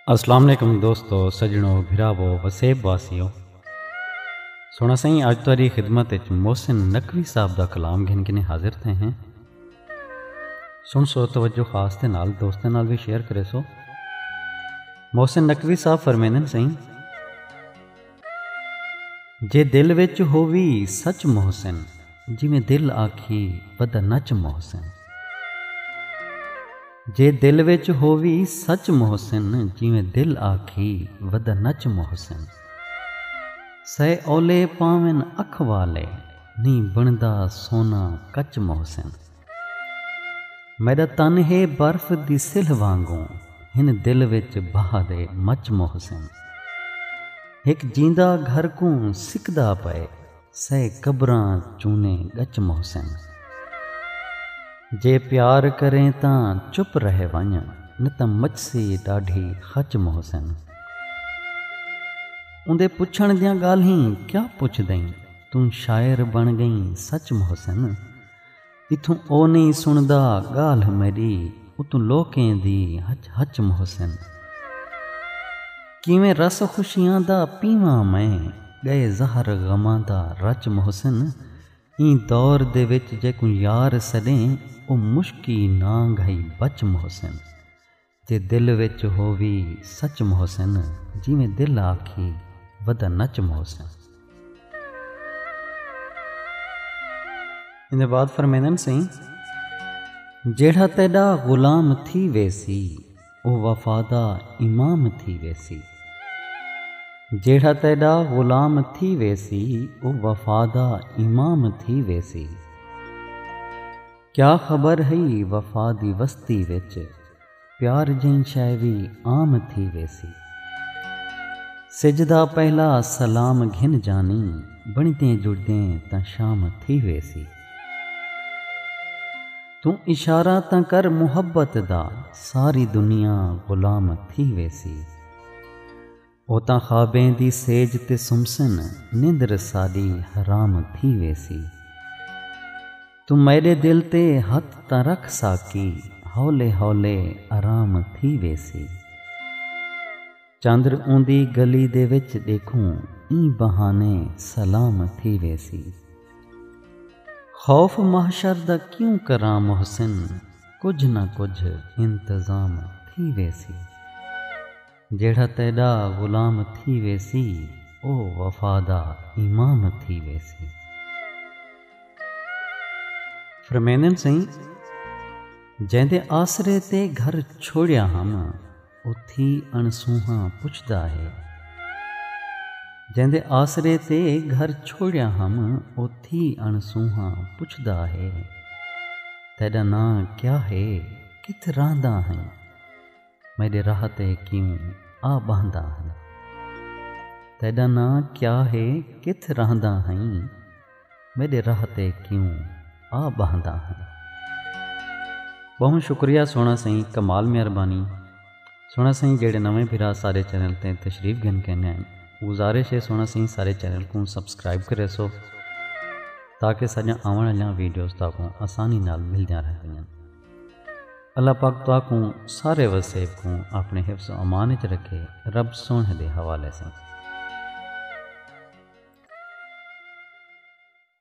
السلام علیکم دوستو سجنو بھراو وسیب واسیو سونا سائیں اج تاری خدمت وچ محسن نقوی صاحب دا کلام گھن کے حاضر تھے ہیں سنسو توجہ خاص دے نال دوستاں نال وی شیئر کرے سو محسن نقوی صاحب فرمیندن سائیں جے دل وچ ہووی سچ محسن جویں دل آکھی بدا نچ محسن جے دل وچ ہووی سچ محسن جویں دل آکھی ودا نچ محسن سئے اولے پاون اکھ والے نیں بݨدا سونا کچ محسن۔ میݙا تن ہے برف دی سلھ وانگوں ہن دل وچ بھاہ دے مچ محسن۔ ہک جیندا گھر کوں سکدا پئے سئے قبراں چونے ڳچ محسن۔ جے پیار کریں تاں چپ رہ ونڄ نتاں مچسی ݙاڈھی خچ محسن۔ اوندے پچھݨ دیاں ڳالھیں کیا پچھدئیں۔ توں شاعر بݨ ڳئیں سچ محسن۔ اتھوں او نئیں سݨدا ڳالھ میݙی اتوں لوکیں دی ہچ ہچ محسن۔ کیویں رس خوشیاں دا پیواں میں ڳئے زہر غماں دا رچ محسن۔ ایں دور دے وچ جیکوں یار سݙیں او مشکی نانگھ ہئی بچ محسن۔ جے دل وچ ہووی سچ محسن جیویں دل آکھی ودہ نچ محسن۔ ایندے بعد فرمیندن سئیں۔ جیڑھا تیڈا غلام تھی ویسی او وفا دا امام تھی ویسی۔ جیڑھا تیڈا غلام تھی ویسی او وفا دا امام تھی ویسی۔ کیا خبر ہئی وفا دی وستی وچ پیار جئیں شئے وی عام تھی ویسی سجدہ پہلا سلام گھن جانی بنڑدیں جڑدیں تاں شام تھی ویسی توں اشارہ تاں کر محبت دا ساری دنیا غلام تھی ویسی۔ او تاں خوابیں دی سیج تے سمسن نندر ساݙی حرام تھی ویسی توں میݙے دل تے ہتھ تاں رکھ ساقی ہولے ہولے آرام تھی ویسی چندر اوندی گلی دے وچ ݙیکھوں ایں بہانے سلام تھی ویسی خوف محشر دا کیوں کراں محسن کجھ نہ کجھ انتظام تھی ویسی۔ جیڑھا تیݙا غلام تھی ویسی او وفا دا امام تھی ویسی۔ فرمیندن سئیں جیندے آسرے تے گھر چھوڑیا ہم اتھی اݨسونہاں پچھدا ہے۔ جیندے آسرے تے گھر چھوڑیا ہم اتھی اݨسونہاں پچھدا ہے۔ تیݙا ناں کیا ہے کتھ رہنداں ہیں۔ میݙے راہ تے کیوں آ ٻہندا ہئیں۔ تیݙا ناں کیا ہے کتھ رہندا ہئیں۔ میݙے راہ تے کیوں آ ٻہندا ہئیں۔ ٻہوں شکریہ سوہݨا سئیں کمال مہربانی سوہݨا سئیں جیڑھے نویں بھرا سارے چینل تے تشریف گھن کین آئن گزارش ہے سوہݨا سئیں سارے چینل کوں سبسکرائب کریسو تاکہ ساݙیاں آوݨ آلیاں ویڈیوز تہاکوں آسانی نال ملدیاں رہندین۔ اللہ پاک تہاکوں سارے وسیب کوں اپݨے حفظ و امان اچ رکھے رب سوہݨے دے حوالے ساں۔